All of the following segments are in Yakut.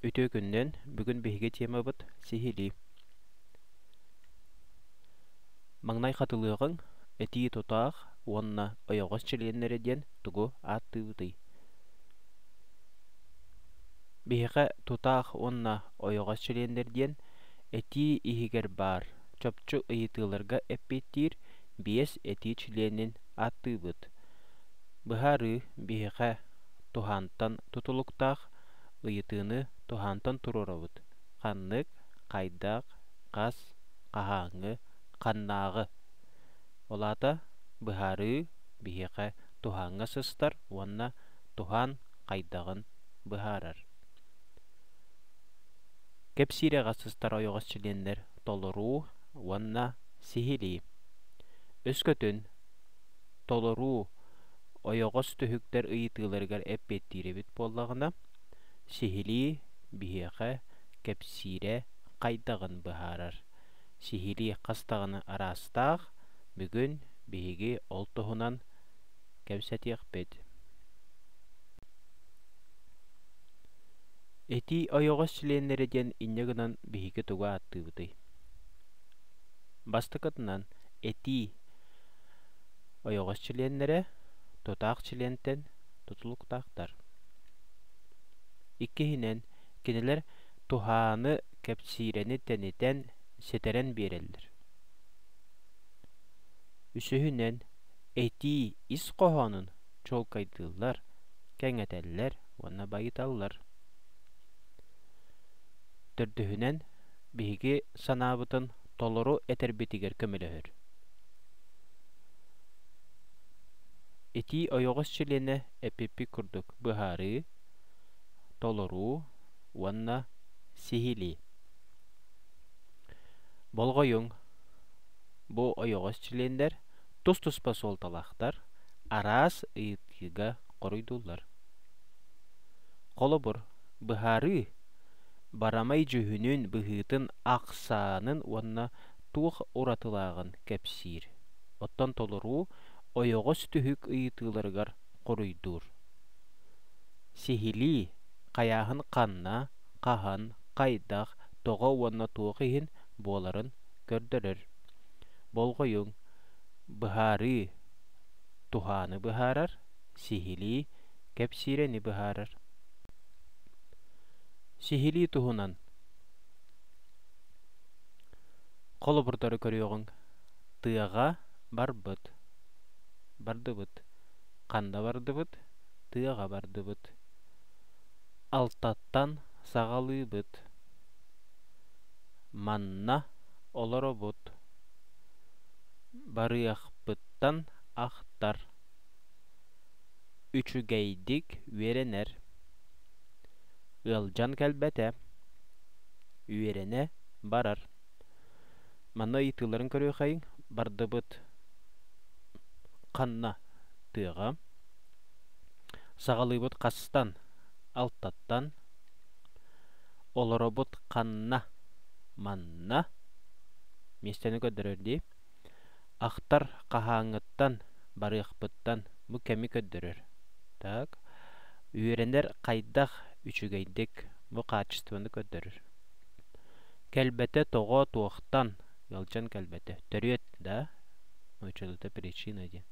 Үтүө күннэн! Бүгүн биһиги темабыт – сиһилии. Маҥнай хатылыаҕыҥ этии тутаах уонна ойоҕос чилиэннэрэ диэн тугу ааттыыбытый? Биһиэхэ тутаах уонна ойоҕос чилиэннэр диэн этии иһигэр баар чопчу ыйытыыларга эппиэттиир биэс этии чилиэнин ааттыыбыт. Быһаарыы биһиэхэ туһаантан тутулуктаах, ыйытыыны туһаантан туруорабыт. Ханнык, хайдах, хас, хаһааҥҥы, ханнааҕы. Ол аата быһаарыы биһиэхэ туһааҥҥа сыстар уонна туһаан хайдаҕын быһаарар. Кэпсиирэҕэ сыстар ойоҕос чилиэннэр толоруу уонна сиһилии. Өскөтүн толоруу, ойоҕос түһүктэр ыйытыыларыгар эппиэттиир эбит буоллаҕына, сиһилии биһиэхэ кэпсиирэ хайдаҕын быһаарар. Сиһилии хас даҕаны араастаах, бүгүн биһиги ол туһунан кэпсэтиэхпит. Этии ойоҕос чилиэннэрэ диэн инньэ гынан биһиги тугу ааттыыбытый? Бастакытынан, этии Ойоҕос чилиэннэрэ тутаах чилиэнтэн тутулуктаахтар. Иккиһинэн, кинилэр туһааны, кэпсиирэни тэнитэн, ситэрэн биэрэллэр. Үсүһүнэн, этии ис хоһоонун чуолкайдыыллар, кэҥэтэллэр уонна байыталлар. Төрдүһүнэн, биһиги санаабытын толору этэрбитигэр көмөлөһөр. Итии ойоҕос чилиэнэ эпиппит курдук быһаарыы, толоруу уонна сиһилии. Болҕойуҥ, бу ойоҕос чилиэннэр тус-туспа суолталаахтар, араас ыйытыыга хоруйдууллар. Холобур, быһаарыы Барамай дьүһүнүн, быһыытын, ахсаанын уонна туох уратылааҕын кэпсиир. Оттон толоруу ойоҕос түһүк ыйытыыларыгар хоруйдуур. Сиһилии, хайааһын ханна, хаһан, хайдах, тоҕо уонна туох иһин буоларын көрдөрөр. Болҕойуҥ. Быһаарыы. Туһааны быһаарар. Сиһилии, кэпсиирэни быһаарар. Сиһилии туһунан холобурдары көрүөҕүҥ. Тыаҕа барбыт. Бардыбыт. Ханна бардыбыт? Тыаҕа бардыбыт. Алтаттан саҕалыыбыт. Манна олоробут. Барыахпыттан ахтар. Үчүгэйдик үөрэнэр. Ыалдьан кэлбэтэ. Үөрэнэ барар. Манна ыйытыыларын көрүөхэйиҥ. Бардыбыт. Ханна тыаҕа. Саҕалыыбыт хастан. Алтаттан. Олоробут ханна. Манна. Миэстэни көрдөрөр дии. Ахтар хаһааҥҥыттан барыахпыттан бу кэми көрдөрөр. Так, үөрэнэр хайдах үчүгэйдик бу хаачыстыбаны көрдөрөр. Кэлбэтэ тоҕо туохтан ыалдьан кэлбэтэ төрүөт да ночолута причина диэн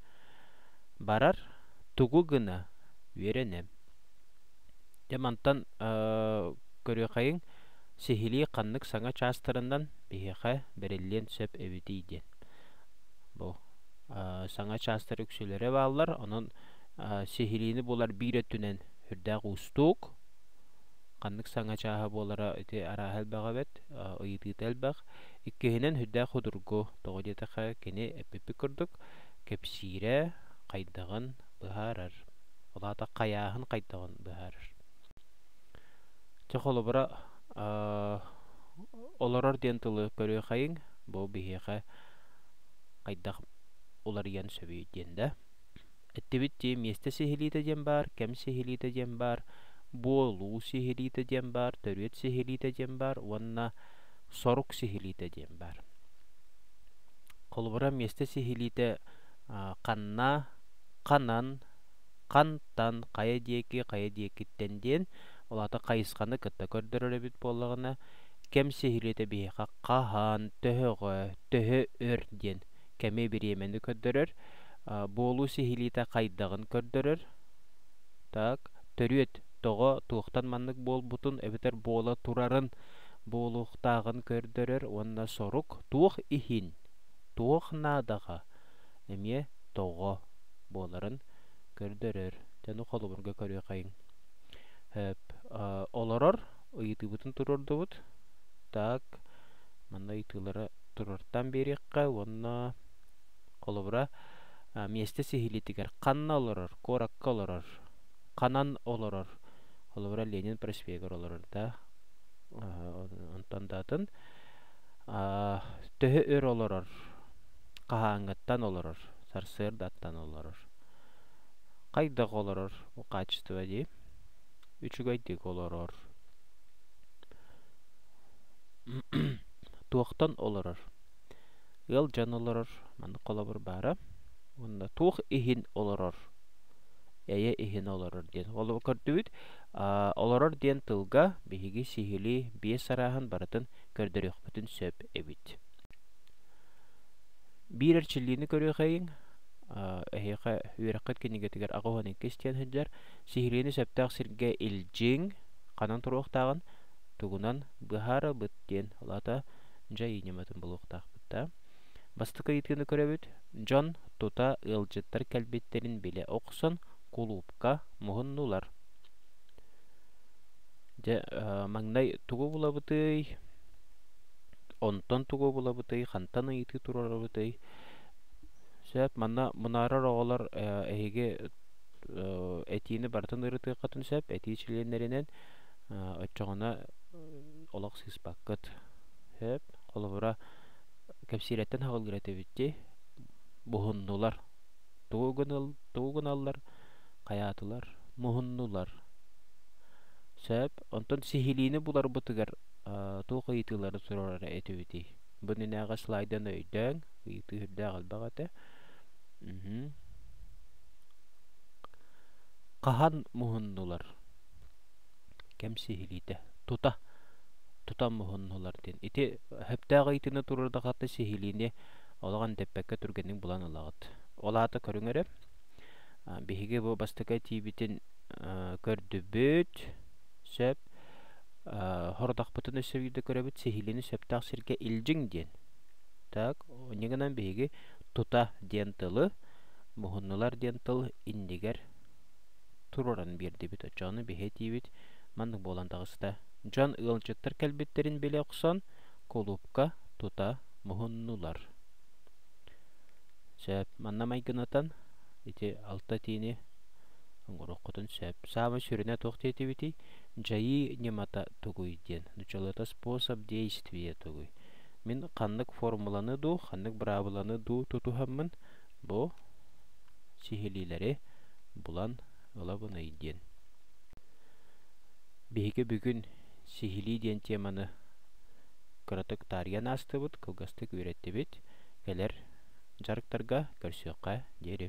барар тугу гына үөрэнэм Дьэ мантан көрүөххэйиҥ, сиһилии ханнык саҥа чаастарынан биһиэхэ бэриллиэн сөп эбитий диэн. Бу саҥа чаастар үксүлэрэ бааллар, онон сиһилиини булар биир өттүнэн үрдээх уустук. Ханнык саҥа чааһа буолара ити арааһа элбэх эбит, ыйытыыта элбэх. Иккиһинэн, үрдээх судургу, тоҕо диэтэххэ, кини эппиппит курдук, кэпсиирэ хайдаҕын, быһаарар, ол аата хайааһын хайдаҕын быһаарар. Чэ, холобура, олорор диэн тылы көрүөхэйиҥ, бу биһиэхэ хайдах уларыйан сөбүй диэн да. Эттибит дии, миэстэ сиһилиитэ диэн баар, кэм сиһилиитэ диэн баар, буолуу сиһилиитэ диэн баар, төрүөт сиһилиитэ диэн баар уонна сорук сиһилиитэ диэн баар. Холобура, миэстэ сиһилиитэ ханна, ханан, хантан, хайа диэки, хайа диэкиттэн диэн, ол аата хайысханы кытта көрдөрөр эбит буоллаҕына, кэм сиһилиэтэ биһиэхэ хаһан, төһөҕө, төһө өр диэн кэми бириэмэни көрдөрөр. буолуу сиһилиитэ хайдаҕын көрдөрөр. Так, төрүөт тоҕо, туохтан маннык буолбутун эбэтэр буола турарын, буолуохтааҕын көрдөрөр уонна сорук туох иһин туох наадаҕа эмиэ тоҕо буоларын көрдөрөр дьону холобурга көрүөххэ олорор ыйытыыбытын туруордубут так манна ыйытыылары туруортан биэриэххэ уонна холобура миэстэ сиһилиитигэр ханна олорор куоракка олорор ханан олорор холобура ленин проспегар олорор да онтон да атын төһө өр олорор хаһааҥҥыттан олорор сарсыардаттан олорор хайдах олорор бу хаачество дии үчүгэйдик олорор туохтан олорор ыал дьон олорор маннык холобур баара уонна туох иһин олорор эйэ иһин олорор диэн холобур көрдүбүт Олорор диэн тылга биһиги сиһилии биэс арааһын барытын көрдөрүөхпүтүн сөп эбит. Биир эрчиллиини көрүөхэйиҥ. Эһиэхэ үөрэххит кинигэтигэр аҕа уһун иккис диэн сылдьар. Сиһилиини сөптөөх сиргэ илдьиҥ, ханан туруохтааҕын тугунан быһаарабыт диэн улаата дьай ньыматын булуохтаахпыт да. Бастакы ыйытыыны көрөбүт. Дьон тута ыалдьыттар кэлбиттэрин билэ охсон, кулуупка муһуннулар дьэ маҥнай тугу булабытый онтон тугу булабытый хантан ыйытыы туруорабытый сөп манна мунаарар оҕолор эһиги этиини барытын ырытыаххытын сөп этии чилиэннэринэн оччоҕуна олох сыыспаккыт сөп холобура кэпсиирэттэн салгыыр этибит дии буһуннулар тугу гыныл тугу гыналлар хайаатылар муһуннулар сөп онтон сиһилиини буларбытыгар туох ыйытыылары суруорара этибитий бунүнээҕи слайданы өйдөөҥ ыйытыы сүрдээх элбэх этэ хаһан муһуннулар кэм сиһилиитэ тута тута муһуннулар диэн ити сөптөөх ыйытыыны туруорда хата сиһилиини олох эндэппэккэ түргэнник булан ылаҕыт. Ол аата көрүҥ эрэ, биһиги бу бастакы этиибитин көрдүбүт, сөп. Хорудахпытын өссө биирдэ көрөбүт, сиһилиини сөптөөх сиргэ илдьиҥ диэн. Так, инньэ гынан биһиги тута диэн тылы, муһуннулар диэн тыл иннигэр туруоран биэрдибит. Оччону биһи этиибит маннык буолан таҕыста. Дьон ыалдьыттар кэлбиттэрин билэ охсон, кулуупка тута муһуннулар сөп манна майгынатан ити алта тиини оҥоруоххутун сөп саамай сүрүнэ туох диэтибитий дьайыы ньымата тугуй диэн началото способ действия тугуй мин ханнык формуланы дуу ханнык быраабыланы дуу тутуһаммын бу сиһилиилэри булан ылабыный диэн биһиги бүгүн Сиһилии диэн теманы кыратык таарыйан аастыбыт, кылгастык үөрэттибит. Кэлэр дьарыктарга көрсүөххэ диэри